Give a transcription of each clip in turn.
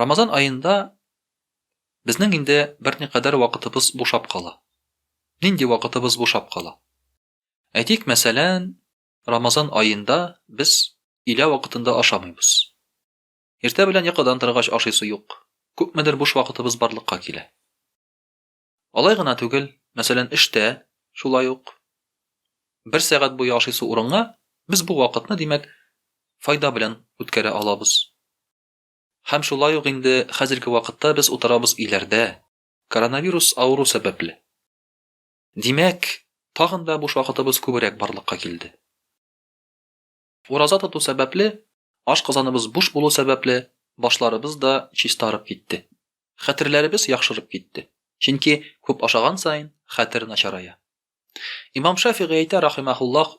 Рамазан аенда безнең инде берникадәр вакытыбыз бушап кала. Нинди вакытыбыз бушап кала? Әйтик, мәсәлән, Рамазан аенда без илә вакытында ашамыйбыз. Иртә белән йокыдан торгач ашыйсы юк. Күпмедер буш вакытыбыз барлыкка килә. Алай гына түгел, мәсәлән, эштә шулай ук бер сәгать буе ашыйсы урынга без бу вакытны, димәк, файда белән үткәрә алабыз. Һәм шулай ук инде хәзерге вакытта без утырабыз өйләрдә, коронавирус авыру сәбәпле. Димәк, тагын да буш вакытыбыз күбрәк барлыкка килде. Ураза тоту сәбәпле, ашказаныбыз буш булу сәбәпле, башларыбыз да чистарып китте. Хәтерләребез яхшырып китте. Чөнки күп ашаган саен, хәтер начарая. Имам Шафигый әйтә рахимаһуллаһ,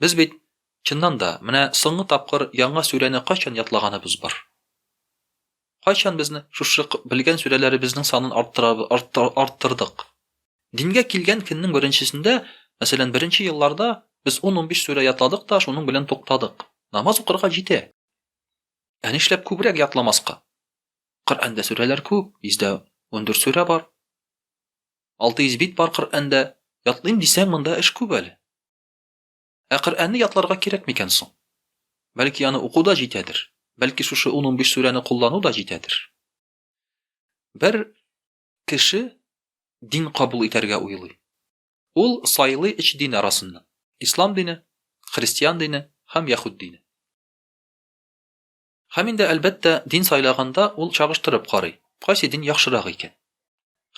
Без бит, чыннан да, менә соңгы тапкыр яңа сүрәне кайчан ятлаганыбыз бар? Кайчан безне шушы белгән сүрәләребезнең санын арттырдык? Дингә килгән көннең беренчесендә, мәсәлән, беренче елларда без 10-15 сүрә ятладык та, шуның белән туктадык. Намаз укырга җитә. Ә нишләп күбрәк ятламаска? Коръәндә сүрәләр күп, йөздә 14 сүрә бар. Алты йөз бит бар Коръәндә. Ятлыйм дисәң, монда эш күп әле. Ә Коръәнне ятларга кирәк микән соң? Бәлки аны уку да җитәдер? Бәлки шушы ун-унбиш сүрәне куллану да җитәдер? Бер кеше дин кабул итәргә уйлый. Ул сайлый өч дин арасыннан, Ислам дине, Христиан дине һәм Яһүд дине. Һәм инде, әлбәттә, дин сайлаганда ул чагыштырып карый, кайсы дин яхшырак икән.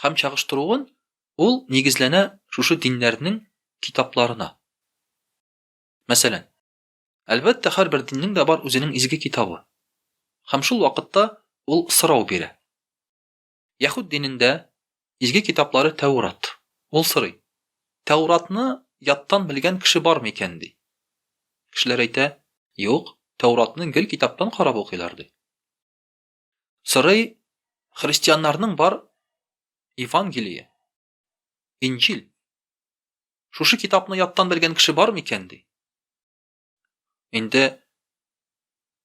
Һәм чагыштыруын ул нигезләнә шушы диннәрнең китапларына. Мәсәлән, әлбәттә, һәрбер диннең дә бар үзенең изге китабы. Һәм шул вакытта ул сорау бирә. Яһүд динендә изге китаплары Тәүрат. Ул сорый, Тәүратны яттан белгән кеше бармы икән, ди. Кешеләр әйтә, Юк, Тәүратны гел китаптан карап укыйлар, ди. Сорый, Христианнарның бар Евангелие, Инҗил. Шушы китапны яттан белгән кеше бармы икән, ди. Инде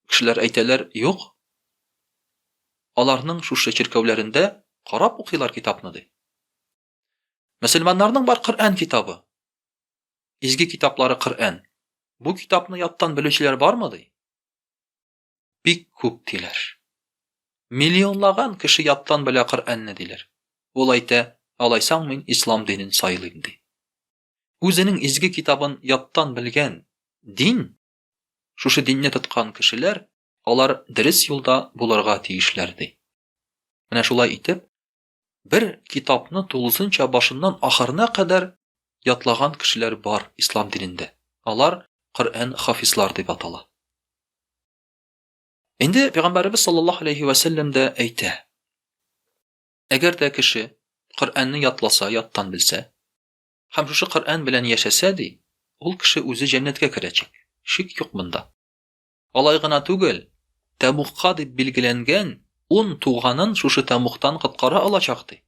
кешеләр әйтәләр, юк. Аларның шушы чиркәүләрендә карап укыйлар китапны ди. Мөселманнарның бар Коръән китабы. Изге китаплары Коръән. Бу китапны яттан белүчеләр бармы ди? Бик күп диләр. Миллионлаган кеше яттан белә Коръәнне диләр. Ул әйтә, алайсаң мин ислам динен сайлыйм ди. Үзенең изге китабын яттан белгән дин, шушы динне тоткан кешеләр, алар дөрес юлда булырга тиешләр, ди. Менә шулай итеп, бер китапны тулысынча башыннан ахырына кадәр ятлаган кешеләр бар ислам динендә. Алар Коръән хафизлар дип атала. Инде пәйгамбәребез саллаллаһу алейхи ва сәлләм дә әйтә. Әгәр дә кеше Коръәнне ятласа, яттан белсә, Һәм шушы Коръән белән яшәсә, ди, ул кеше үзе җәннәткә керәчәк. Шик юк монда. Алай гына түгел, Тәмугка дип билгеләнгән ун туганын шушы Тәмугтан коткара алачак, ди.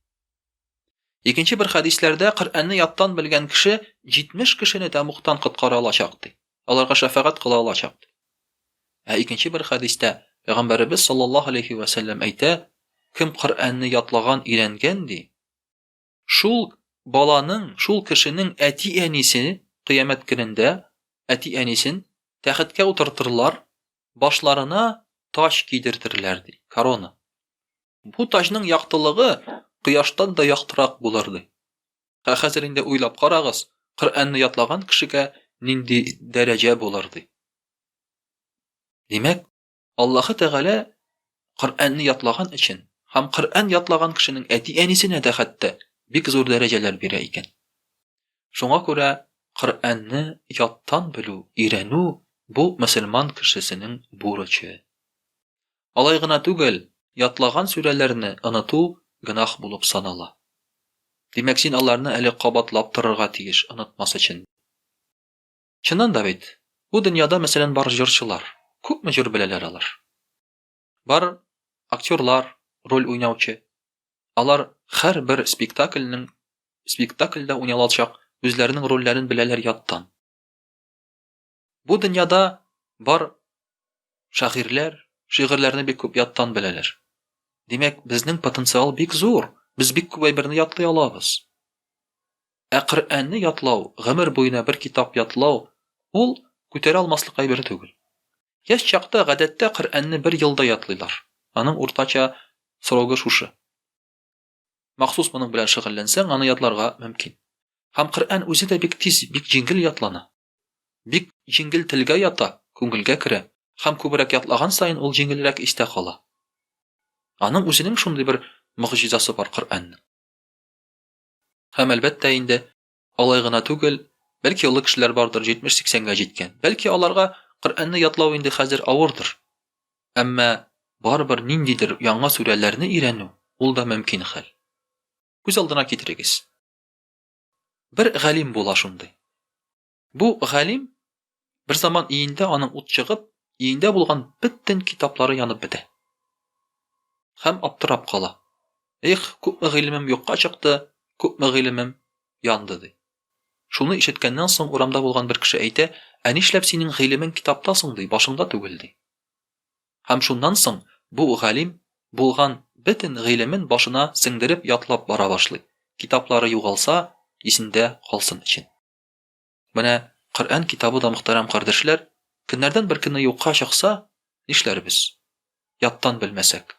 Икенче бер хәдисләрдә Коръәнне яттан белгән кеше 70 кешене Тәмугтан коткара алачак, ди. Аларга шәфәгать кыла алачак, ди. Ә икенче бер хәдистә Пәйгамбәребез саллаллаһу алейхи ва сәлләм әйтә, кем Коръәнне ятлаган, өйрәнгән, ди, Шул баланың, шул кешенең әти-әнисе кыямәт көнендә әти-әнисен тәхеткә утыртырлар, башларына таҗ кидертерләр, ди, корона. Бу таҗның яктылыгы кояштан да яктырак булыр, ди. Ә хәзер инде уйлап карагыз, Коръәнне ятлаган кешегә нинди дәрәҗә булыр, ди. Димәк, Аллаһы Тәгалә Коръәнне ятлаган өчен һәм Коръән ятлаган кешенең әти-әнисенә дә хәтта бик зур дәрәҗәләр бирә икән. Шуңа күрә Коръәнне яттан белү, өйрәнү бу мөселман кешесенең бурычы. Алай гына түгел, ятлаган сүрәләрне оныту гөнаһ булып санала. Димәк, син аларны әле кабатлап торырга тиеш, онытмас өчен. Чыннан да бит, бу дөньяда, мәсәлән, бар җырчылар. Күпме җыр беләләр алар? Бар актерлар, роль уйнаучы. Алар һәрбер спектакльнең спектакльдә уйналачак үзләренең рольләрен беләләр яттан. Бу дөньяда бар шагыйрьләр шигырьләрне бик күп яттан беләләр. Димәк, безнең потенциал бик зур. Без бик күп әйберне ятлый алабыз. Ә Коръәнне ятлау, гомер буена бер китап ятлау, ул күтәрә алмаслык әйбер түгел. Яшь чакта, гадәттә, Коръәнне бер елда ятлыйлар. Аның уртача срогы шушы. Махсус моның белән шөгыльләнсәң, аны ятларга мөмкин. Һәм Коръән үзе дә бик тиз, бик җиңел ятлана. Бик җиңел телгә ята, күңелгә керә. Һәм күбрәк ятлаган саен ул җиңелрәк истә кала. Аның үзенең шундый бер могҗизасы бар Коръәннең. Һәм, әлбәттә инде, алай гына түгел, бәлки олы кешеләр бардыр, 70-80-гә җиткән. Бәлки аларга Коръәнне ятлау инде хәзер авырдыр. Әмма барыбер ниндидер яңа сүрәләрне өйрәнү, ул да мөмкин хәл. Күз алдына китерегез. Бер галим була шундый. Бу галим берзаман өендә аның ут чыгып, өендә булган бөтен китаплары янып бетә. Һәм аптырап кала. Их, күпме гыйлемем юкка чыкты, күпме гыйлемем янды, ди. Шуны ишеткәннән соң урамда булган бер кеше әйтә, Ә нишләп синең гыйлемең китапта соң, ди, башыңда түгел, ди. Һәм шуннан соң бу галим булган бөтен гыйлемен башына сеңдереп ятлап бара башлый, китаплары югалса, исендә калсын өчен. Менә Коръән китабы да, мөхтәрәм кардәшләр, көннәрдән бер көнне юкка чыкса, нишләрбез? Яттан белмәсәк.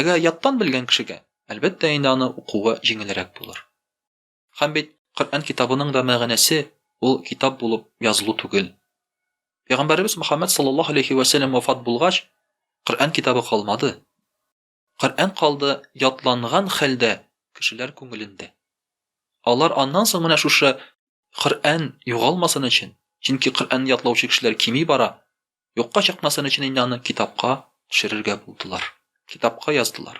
Әгәр яттан белгән кешегә, әлбәттә инде аны укуы җиңелрәк булыр. Һәм бит Коръән китабының да мәгънәсе ул китап булып язылу түгел. Пәйгамбәребез Мөхәммәд саллаллаһу алейхи вә сәлләм вафат булгач, Коръән китабы калмады. Коръән калды ятланган хәлдә кешеләр күңелендә. Алар аннан соң менә шушы Коръән югалмасын өчен, чөнки Коръәнне ятлаучы кешеләр кими бара, юкка чыкмасын өчен инде аны китапка төшерергә булдылар, китапка яздылар.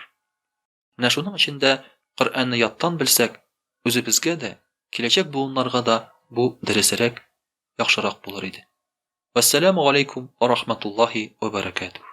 Менә шуның өчен дә Коръәнне яттан белсәк, үзебезгә дә, киләчәк буыннарга да бу дөресрәк, яхшырак булыр иде. Вәссәламү галәйкүм вә рахматуллаһи вә бәрәкәтүһ.